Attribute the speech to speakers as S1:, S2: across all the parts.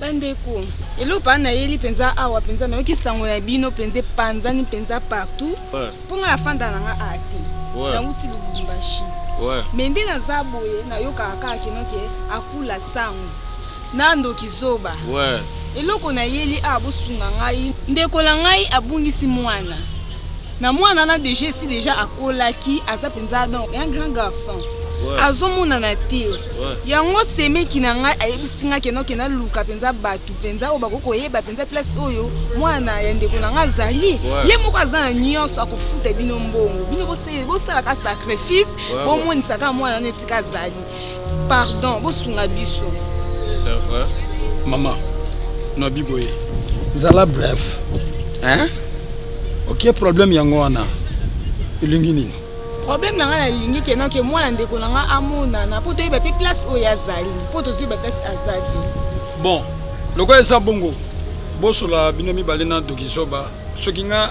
S1: bandeko eloko aa nayeli mpenza awa mpenza nayoki sango ya bino mpenza epanzani mpenza partout mpo ngai afanda na ngai aa te nauti lubumbashi me nde naza boye nayokaka kaka kinoke akula sango N'a ndoki zoba. Ouais. Eloko na yeli awa bosunga ngai. Ndeko na ngai abungisi mwana. Na mwana na deja esi deja akolaki aza penza donc un grand garçon. Ouais. Azomonana te. Ouais. Yango semeki na ngai ayebisi ngai keno kena luka penza batu penza oyo bako koyeba penza place oyo mwana ya ndeko na ngai azali. Ouais. Ye moko aza na nyonso akofuta bino mbongo. Bino bosala bosala ka sacrifice Ouais, ouais. bomonisaka mwana na esika azali. Pardon, bosunga biso. C'est vrai.
S2: Maman,
S3: no biboye. Zala bref. Hein? Ok, problème yango wana. Elingi nini? Problème na nga na
S1: lingi ke non ke mwana ndeko na nga amonana po toyeba pe place oyo azali. Po tozwi ba place azali. Bon,
S3: lokola eza bongo, bosola bino mibale na Dokizoba soki nga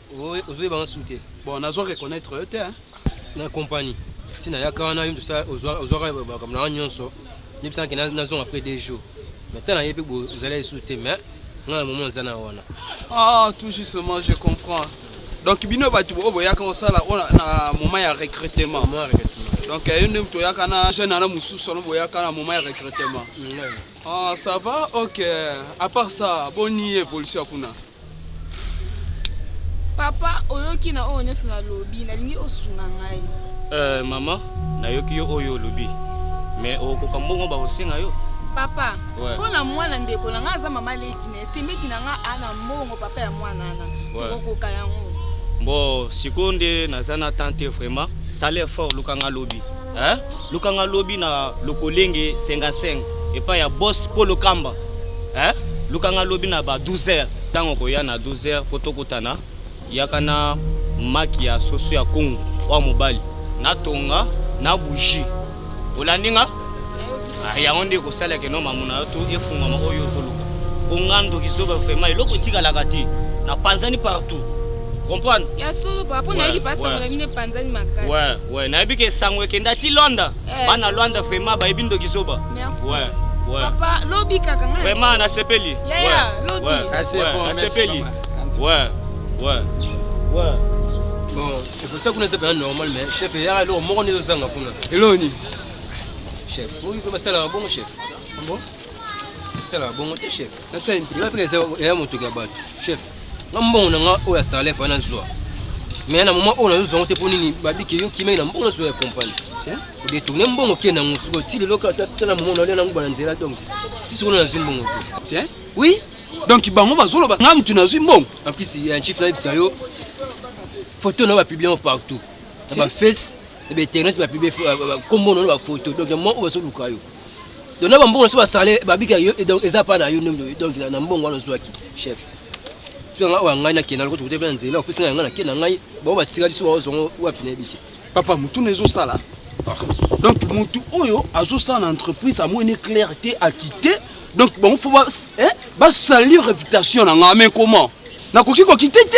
S3: Ozo yeba
S4: nga su te. Bon nazo reconnaitre
S3: yo te hein. na compagnie
S4: ti nayaka wana yo moto ozwaka makambo na wana nyonso yebisaka ke nazonga après deux jours mais ta nayebi ozali lisusu te mais nga na momo naza na wana ah tout
S3: justement je comprends donc bino bato oyo boyaka kosala na moment ya recrutement donc yo nde moto oyaka na jeune ana mosusu wana boyaka na moment ya recrutement Ah, ça va? Ok. À part ça, boni évolution ya kuna?
S1: Papa, oyoki na oyo nyonso nalobi, nalingi osunga ngai. Euh, mama,
S2: nayoki yo oyo olobi. Mais okokoka mbongo bakosenga yo? Papa, Ouais.
S1: mpo na mwana ndeko na ngai aza mama leki na esemeki na ngai ana mbongo papa ya mwana ana Ouais. tokokoka yango. Bon,
S2: sikoyo nde naza na temps te vraiment. Sala effort luka nga lobi. Hein? Luka nga lobi na lokolenge 55 epai ya boss Polo Kamba. Hein? Luka nga lobi na ba 12 heures. Tango koya na 12 heures po tokutana, yaka na maki ya soso ya Congo oyo ya mobali, na tonga, na bougie. Olandi nga? Ah, yango nde ekosala ke no mamuna yo to efungwama oyo ozoluka mpo nga ndoki zoba vraimen eloko etikalaka te na panzani partout comprendre ya solo papa mpo
S1: nayebi pasi sango na bino epanzani makasi we we nayebi ke
S2: sango ekenda ti lwanda eh, bana lwanda vraimen bayebi ndoki zoba we we papa
S1: lobi kaka nga vraimen nasepeli
S2: yaya
S1: lobi nasepeli
S2: we we we
S4: bon ekosa kuna ezapela normal mais chef eyaka eloko moko nde ezozanga kuna eloko nini Chef, oui, comme ça là, bon chef. Bon. Ça là, bon te chef. Ça c'est une prière
S3: que ça est mon
S4: truc à battre. Chef, nga mbongo na nga oyo ya salaire fa na zwa. Mais na moment oyo na zwa ngote poni ni babi ke yo kimai na mbongo zwa ya compagnie. Tiens, o détourner mbongo ke na ngusuko ti le loka ta na moment na le na nguba na nzela donc. Ti solo na zwa mbongo. Tiens. Oui.
S3: Donc bango bazoloba nga mutu na zwa mbongo. En plus, il y a un chief na
S4: bisayo. Photo na ba publier partout. Na ba face ba internet ba publier kombo na ba photo donc mo ba so luka yo donc na ba mbongo so ba sale ba bika yo donc eza pa na yo ndondo donc na mbongo wana zwaki chef so nga wa ngai na kena ko tukute pe nzela opesi ngai na kena ngai ba
S3: ba tikali so ba zongo wa pina bite papa mutu na ezo sala donc mutu oyo azo sala na entreprise amoi ne clair te a quitter donc bango fo ba hein ba salir réputation na ngai mais comment nakoki ko quitter te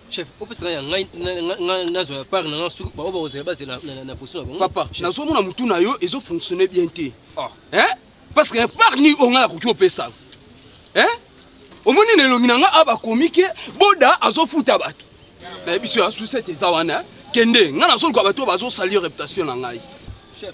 S4: Chef, opesa nga ya ngai nga nazwa ya part na nga soki ba oyo bakozela bazela na poso na bango. Papa, nazo mona mutu
S3: na yo ezo fonctionner bien te. Ah. Hein? Parce que part ni onga na koki opesa. Hein? Omoni na elongi na nga aba komi ke boda azo futa batu. Na biso ya sucette eza wana. Kende, nga nazo luka batu bazo salir reputation na ngai. Chef.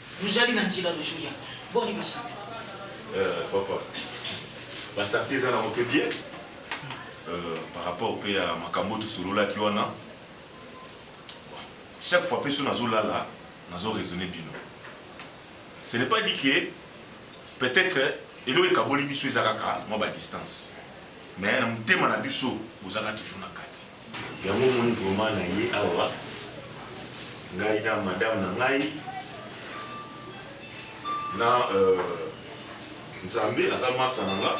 S5: Bozali na nzela bozo ya boni ba sango. Euh,
S6: papa. Ba santé eza na mpe bien. Euh, par rapport mpe ya makambo tosololaki wana. Chaque fois mpe so nazo lala, nazo raisonner bino. Ce n'est pas dit que peut-être eloko ekaboli biso eza kaka mwa ba distance. Mais na motema na biso bozaka toujours na kati. Yango omoni vraiment na ye awa ngai na madame na ngai na euh, nzambe aza masa na nga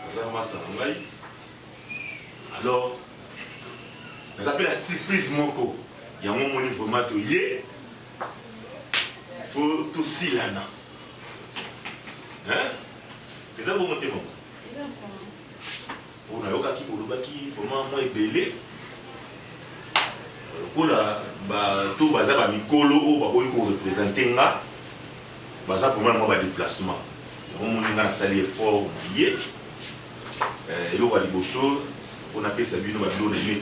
S6: aza masa na ngai alors naza mpe na surprise moko yango omoni vraiment toye po tosilana eza bongo te mama Po nayokaki bolobaki vraiment mwa ebele lokola ba to baza ba mikolo oyo bakoki ko representer nga baza vraiment na mwa ba deplacement yango omoni nga nasali effort naye eloko ya liboso po napesa bino ba biloko na bino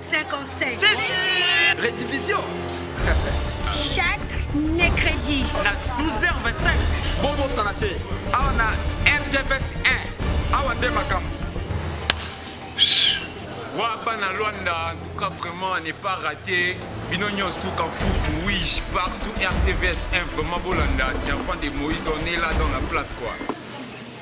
S7: 57.
S3: Redivision.
S7: Chaque mercredi. Na 12h25.
S8: Bobo Sanate. Awa na RTVS 1. Awa nde makambo. Waba na Luanda, en tout cas vraiment, n'est pas raté. Binonios tout en foufou, oui, partout RTVS 1, vraiment Bolanda, serpent de Moïse, on est là dans la place quoi.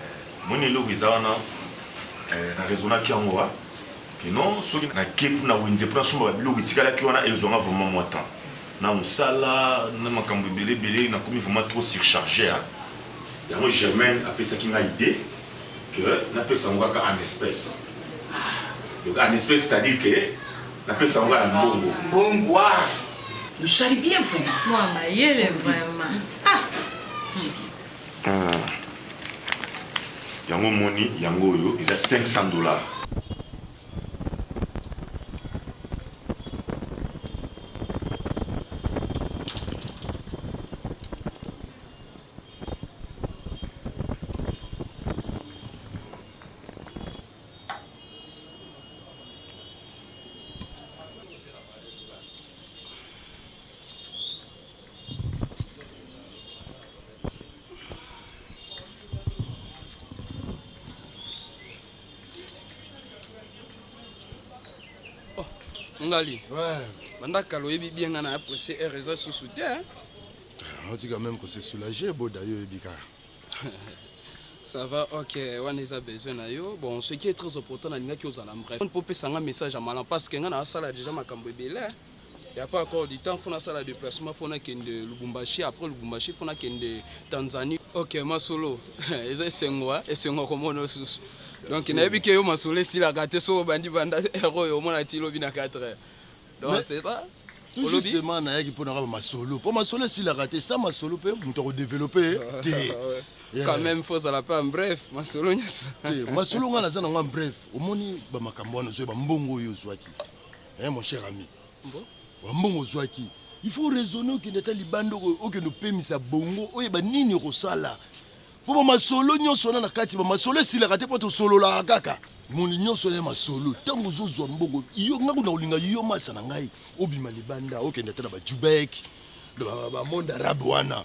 S6: Eh omoni eloko eza wana eh, na raisonnaki yango wa que non soki nake mpo na wenze mpo nasomba babiloko etikalaki wana ezwanga vraiment mwa temps na mosala na makambo ebele ebele nakomi vraiment trop surcharge ya yango germaine apesaki nga idée que napesa yango kaka en espèce donc en espèce c'est à dire que napesa yango ya mbongo mbongo wa
S5: nosali bien vraiment mwa mayele
S9: vraiment ah
S6: Yango omoni yango oyo eza 500 dollars.
S3: ngali banda kala oyebi bien ngai na ya presse heure eza susu te
S10: otika ah, meme kose soulage boda yo oyebi kaka
S3: ça va ok wana eza besoin na yo bon ce qui est très important nalingaki ozala bref mpo opesa ngai message ya malam parce que ngai naasala déjà makambo ebele Il ya pas encore du temps faut na sala deplacement faut na kende Lubumbashi après Lubumbashi faut na kende Tanzanie. Ok masolo eza esengo hein? esengo ya komona yo susu donc nayebi ke yo masolo esilaka te soki obandi banda heure oyo omona ti lobi na 4 heures donc c'est pas tout justement
S10: nayaki mpo nakaba masolo mpo masolo esilaka te sa masolo mpe moto akodevelope te quand
S3: même faut ozala mpe en bref masolo nyonso te masolo
S10: ngai naza na ngai en bref omoni bamakambo wana ozwa bambongo oyo ozwaki Hein mon cher ami. Mbo. Ba mbongo ozwaki il faut raisonner okende ata libanda okende opemisa bongo oyeba nini okosala po ba masolo nyonso wana na kati ba masolo esilaka te po tosololaka kaka moni nyonso wana ya masolo ntango ozozwa mbongo yo ngai kuna kolinga yo masa na ngai obima libanda okende ata na bajubek bamonde arabe wana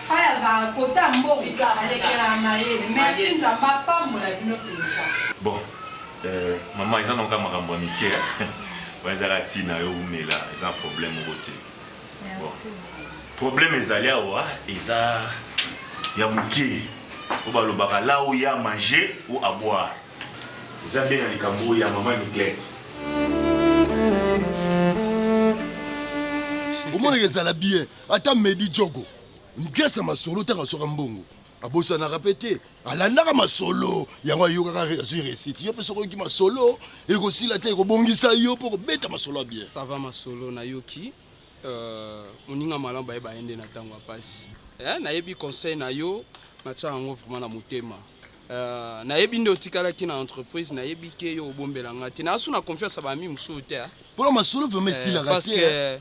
S9: Fay azalaka cote ya mbongo
S6: alekela mayele merci nzambe apambola bino penza. Bon euh, maman eza nonga makambo ya mike wana ezaka ntina yo umela eza problème moko te bon. problème ezali awa eza ya moke oyo balobaka la oyo ya manger ou à boire eza nde na likambo oyo ya mama niklete
S10: omonaka ezala bien Ata Medi Djogo, Mpias ya masolo ntango azwaka mbongo abosanaka mpe te, alandaka masolo yango, ayokaka azwi resite. Yo mpe soki oyoki masolo ekosila te, ekobongisa yo mpo kobeta masolo ya bien. Ça va masolo
S3: nayoki euh, moninga malamu bayeba ye nde na ntango ya mpasi eh, nayebi conseil na yo natyaka yango vraiment na motema euh, nayebi nde otikalaki na entreprise nayebi ke yo obombela nga te nayasu na confiance ya bami mosusu te eh. mpona masolo vraiment
S10: esilaka eh, te eh.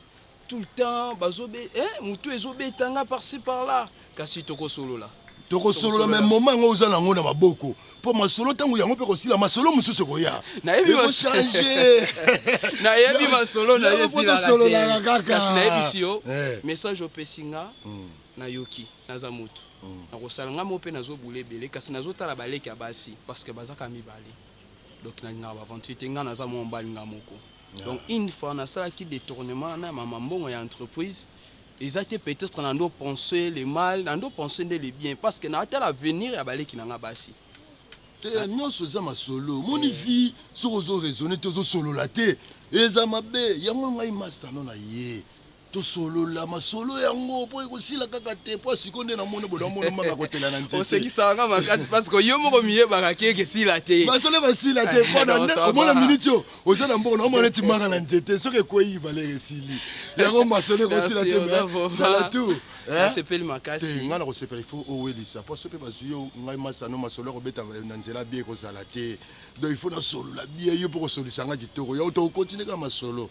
S3: Tout le temps bazo be eh mutu ezo beta nga par ci par là kasi toko solola. Toko solola mais
S10: moment yango oza na ngo na maboko po masolo tango yango pe kosila masolo mususu ekoya. Na yebi ba
S3: changer. Na yebi ba solo na ye sila la te. Kasi
S10: na yebi si yo eh.
S3: message opesi nga mm. na yoki naza mutu. Mm. Na kosala nga mo pe nazo boule bele kasi nazo tala baleki ya basi parce que baza ka mibale. Donc na linga ba aventure te nga naza mo mbali nga moko. Donc une fois na sala ki detournement na mama mbongo ya entreprise eza te peut etre na ndo pense le mal na ndo pense nde le bien parce que na tala avenir ya ba leki na nga basi. Te ya nionso
S10: eza masolo omoni eh. vie soki ozo raisonner te ozo solola te eza mabe yango ngai masta no na ye Tosolola masolo yango po ekosila kaka te po siko nde namoni bodo amona mama akotela na nzete. Osekisaka nga makasi
S3: parce que yo moko miyebaka ke ekesila te. Masolo ekosila te
S10: po na nde omona minute yo oza na mbongo na omona neti manga na nzete soki ekweyi valeur esili. Yango masolo ekosila te mais zala tout. Nasepeli makasi.
S3: Te nga nakosepela il faut
S10: owelisa po soki pe bazwi yo ngai masano masolo ya kobeta na nzela bien ekozala te donc il faut nasolola bien yo pe okosolisa nga kitoko yango toko continuer kaka masolo.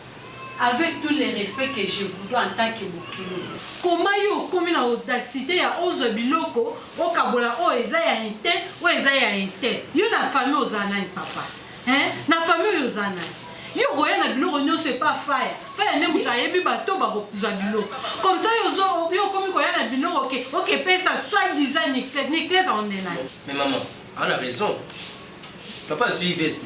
S9: Avec tout le respect que je vous dois en tant que bokilo. Comment yo okomi na audacite ya ozwa biloko okabola oyo eza ya un tel oyo eza ya un tel? Yo na famille oza nani papa? Hein? Na famille oyo oza nani? Yo okoya na biloko nionso epa faya. Faya nde moto ayebi bato bakozwa biloko. Comme ça yo ozo yo okomi koya na biloko ke oke pesa soit disant Niclette. Niclette on est nani? Mais maman,
S4: ana raison. Papa azui veste.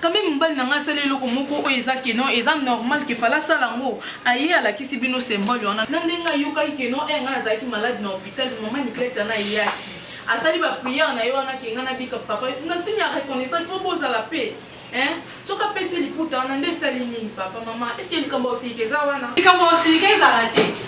S11: Quand meme mobali na ngai asali eloko moko oyo eza que non eza normal que fala asala yango aye alakisi bino symbole wana na ndenge ayokaki que non eh ngai nazalaki malade na hopital mama Niclette yana ayaki asali ba prière na ye wana ke ngai nabika papa na signe ya reconnaissance po bozala pe Hein? soki apesi liputa wana nde esali nini papa mama eske likambo ya kosilika eza wana likambo ya kosilika ezala
S9: te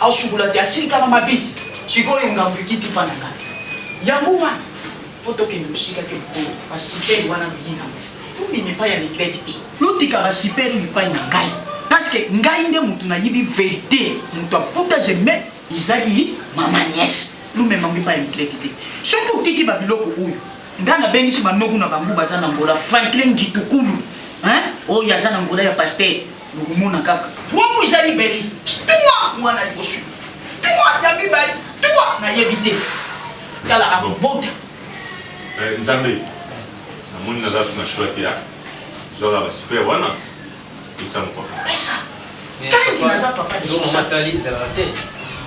S5: Asukola te asili kaka mabi sikoyo ngambo ekiti pa na ngai yango wana mpo tokende mosika te mokolo basipeli wana biyi na tobima epai ya mibeti te lotika basipeli epai na ngai parceke ngai nde moto nayibi verite moto aputa jeme ezali mama niese lumema ngo epai ya mibeti te soki otiki babiloko oyo ngai nabengisi banoku na bango baza na ngola franklin gitukulu oyo aza na ngola ya pastere Lokomona kaka. Wango ezali beli. Tua mwana liboso. Tua ya mibali. Tua nayebi te. Tala akobota. Eh,
S6: Nzambe. Namoni naza suna shua te. Ah. Zwaka ba super wana. Pesa mokwa. Pesa. Tangi naza papa
S5: de sosali. Ndoma masali ezalaka te.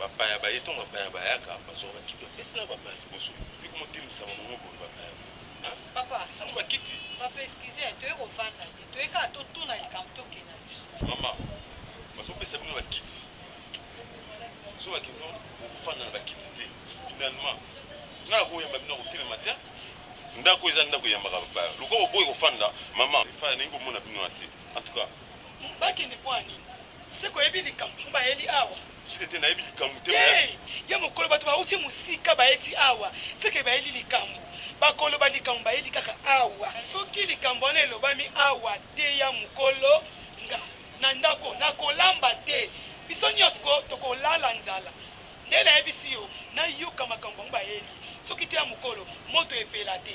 S12: Bapaya baye to bapaya bayaka bazua bakiti bapesi na bapaya liboso pe komo telmisama bongo boye bapaya boye hein papa
S13: pesa ngo bakiti.
S12: Papa excuse hein
S13: toye ko vanda te toye kaka to tuna likambo to kende na biso. Mama
S12: bazo pesa bino ba kiti bozo ba kino boko fanda na ba kiti te finalement nga na ko yamba bino nako telema te ndako eza ndako eyambaka bapaya lokola oboyi ko fanda mama efa nalingi ko mona bino wana te en tout cas ba kende pona
S14: nini. Seko oyebi likambo mpo baye li awa? Seke te nayebi likambo
S12: te mais. Te! Ya mokolo
S14: bato bawuti mosika baye ti awa, seke baye li likambo. Bakoloba likambo baye li kaka awa. Soki likambo wana elobami awa te ya mokolo, nga na ndako nakolamba te. Biso nyos ko tokolala nzala. Nde nayebisi yo nayoka makambo bango baye li. Soki te ya mokolo moto epela te.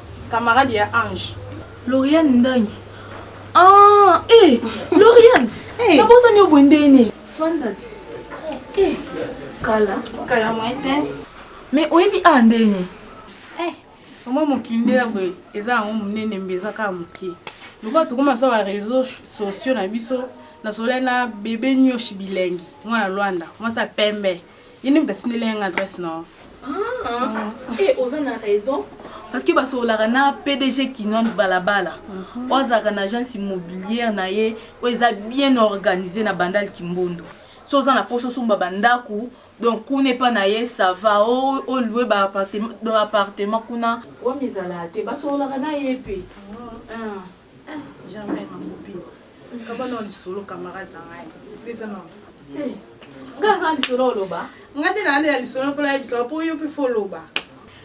S9: Camarade ya Ange. Lauriane Ndangi.
S11: Ah, eh, Lauriane. hey. Nabosa nyo boye ndenge nini? Fanda ti. Eh, kala. Kala moyen te.
S9: Mais oyebi
S11: a ndenge
S9: nini? Eh, mwa mokinde ya boye eza yango monene mbe eza kaka moke. Lokola tokoma sa ba réseaux sociaux na biso nasolai na bebe nyoshi bilengi mwana Luanda mwasi ya pembe. ye nde moto atindeli yanga adresse nao e
S11: eh, oza na raison parce que basololaka na pdg kinon balabala mhm. oyo azalaka na agence immobilière na ye oyo eza bien organisé na bandal kimbondo so oza na mposa osomba bandako donc kuna epa na ye sava olue baappartement kuna wana ezalaka te basololaka na ye mpe mhm. ah. Eh
S9: jamais ma copine. Kaba na lisolo camarade na
S11: ngai. Leta na. Eh. Nga za lisolo oloba. Nga te na ya lisolo
S9: mpo nayebisa mpo yo mpe fo loba.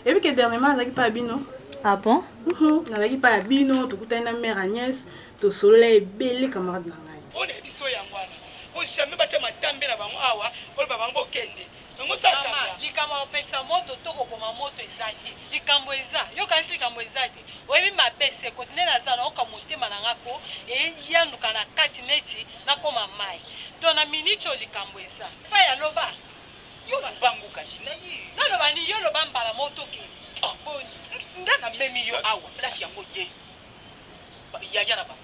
S9: Ebi ke dernièrement azaki pa bino. Ah bon?
S11: Mhm. Nazalaki pa ya
S9: bino, tokutani na mère Agnès, tosolola ebele camarade na ngai. Oyo na biso yango wana.
S14: Bo jamais batya matambe na bango awa, oloba bango bokende. Mama likambo ya kopelisa
S13: moto to koboma moto eza te likambo eza yo okanisi likambo eza te oyebi mabe se kote nde naza na oka motema na nga ko eyanduka na kati neti nakoma mayi to na minute oyo likambo eza fay aloba yo
S14: lubangu kasi na ye naloba ni yo loba
S13: mbala moko tokende oh. boni
S14: nga na memi yo awa place yango ye yaya na ba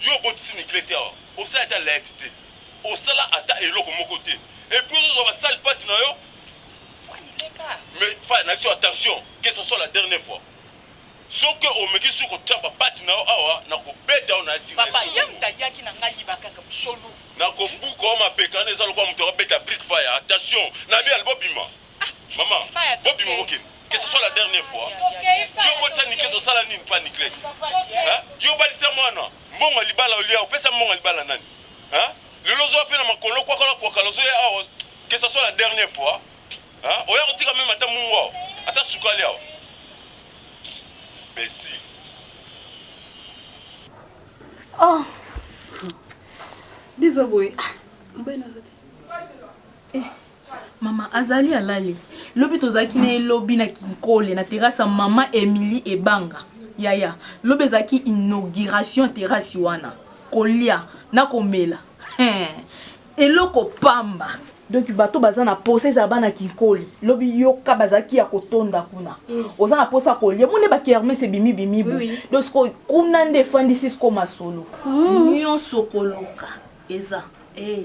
S12: Yo obotisi niclette te awa osali ata laette te osala ata eloko moko te epuis ozo zwa ba sale patte na yo mais faya nabiso attention que sa soit la dernier fois soki omeki lisusu kotia ba patte na yo awa nako beta yo na esika Papa ya muta yaki
S14: na nga yiba kaka musolo. Nako buka yo
S12: mapeka wana eza lokola mutu ako beta brique faya attention nabi albo bima. Maman, bobima bokende. Que ce soit la dernière fois. Yo botisa Niclette osala nini pa Niclette? Hein? Yo balisa mwana mbongo libala olia opesa mbongo libala nani? Hein? Lelo ozoya pe na makolo kwa kola kwa kala ozoya awa que ce soit la dernière fois. Hein? Oya kotika meme ata mungu awa. Ata sukali awa. Besi.
S11: Oh.
S9: Bizo boye. Ah, mbena zote. Eh.
S11: Mama azali alali. Lobi tozalaki na ye lobi na Kinkole na terrasse ya mama Emilie Ebanga. Yaya, lobi ezalaki inauguration ya terrasse wana. Kolia na komela. Hee. Eloko pamba. donc bato baza na posa ezala bana kinkoli lobi yoka bazalaki ya kotonda kuna mm. oza na posa kolia mone bakermes ebimi bimi bo oui. donc sikoyo kuna nde efandisi sikoyo masolo mm. nyonso koluka eza hey. Eh.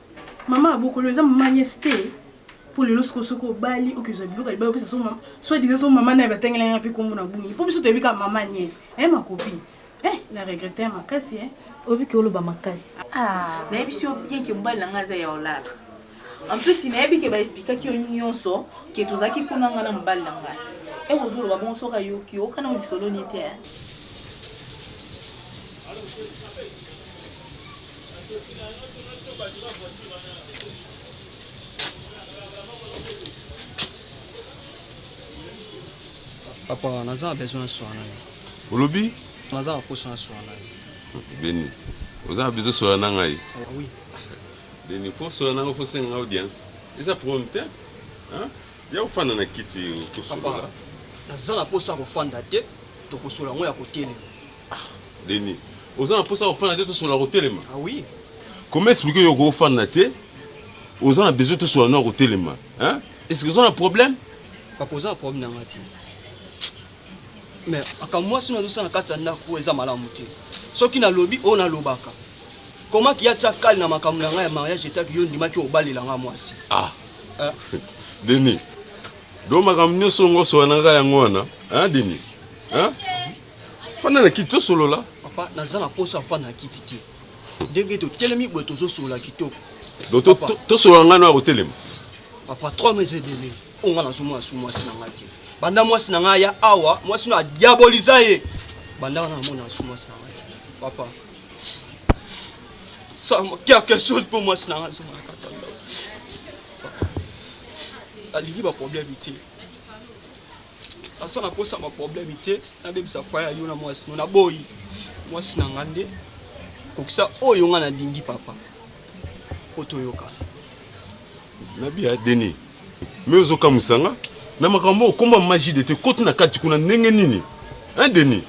S9: Maman abokolo eza maman nièce te. Po lelo siko soki obali okezwa biloko ya libala opesa so maman. Soit disant so maman naye batangela nga pe kombo na bungi. Po biso toyebi kaka maman nièce. Hein ma copine? Eh na regretter makasi hein. Oyebi ke oloba
S11: makasi. Ah nayebi si yo bien ke mobali na nga aza ya olala. En plus nayebi ke ba explikaki yo nionso ke tozalaki kuna nga na mobali na nga. Eko zoloba bongo soki ayoki yo oka na lisolo ni te hein.
S2: papa naza na besoin aswana yo olobi
S12: naza na poso
S2: aswana yo beni
S12: oza na besoin soya na ngai ah, oui
S2: beni
S12: mpo soya na ngai fosenga audience eza problème te ya kofanda na kiti kosolola
S2: naza na poso ya kofanda te tokosola yango ya kotelema Ah
S12: Denis, oza na posa kofanda te tosola kotelema? Ah oui.
S2: Comment expliquer
S12: yo kofanda te? Oza na besoin tosola na kotelema? Hein? Est-ce que oza na problème? Papa oza na problème
S2: na nga te. Mais aka mwasi na dosana kati ya ndako eza malamu te. Soki nalobi oyo nalobaka. Comment ki atia kali na makambo na nga ya mariage etaki yo ndimaki obalela nga mwasi? Ah. Hein? Denis.
S12: Donc makambo nyonso ngo sola na nga yango wana? Hein Denis? Hein? fanda na kiti tosolola papa naza na posa
S2: afanda na kiti te ndenge totelemi boye tozosolola kitoko
S12: tosolola ngai noya kotelema papa trois
S2: mes ebele oyo ngai nazomona su mwasi na ngai te banda mwasi na ngai ya awa mwasi no adiaboliza ye banda wana namona su mwasi na ngai te papa sama quelque chose mpo mwasi na ngai azonga na kati ya ndako alingi baproblème te naza na posa ma problème te nabebisa foye ya yo na mwasi no naboyi mwasi na nga nde kokisa oyo nga nalingi papa mpo toyokana
S12: nabia deni me ozokamwisa nga na makambo okomba magie de te koti na kati kuna ndenge nini hein deni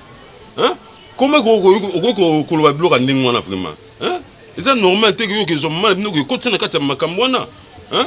S12: hein koma okoki koloba biloko ya ndenge wana vraiment hein eza normal te koyoka ezwa mama na bino kokotisa na kati ya makambo wana hein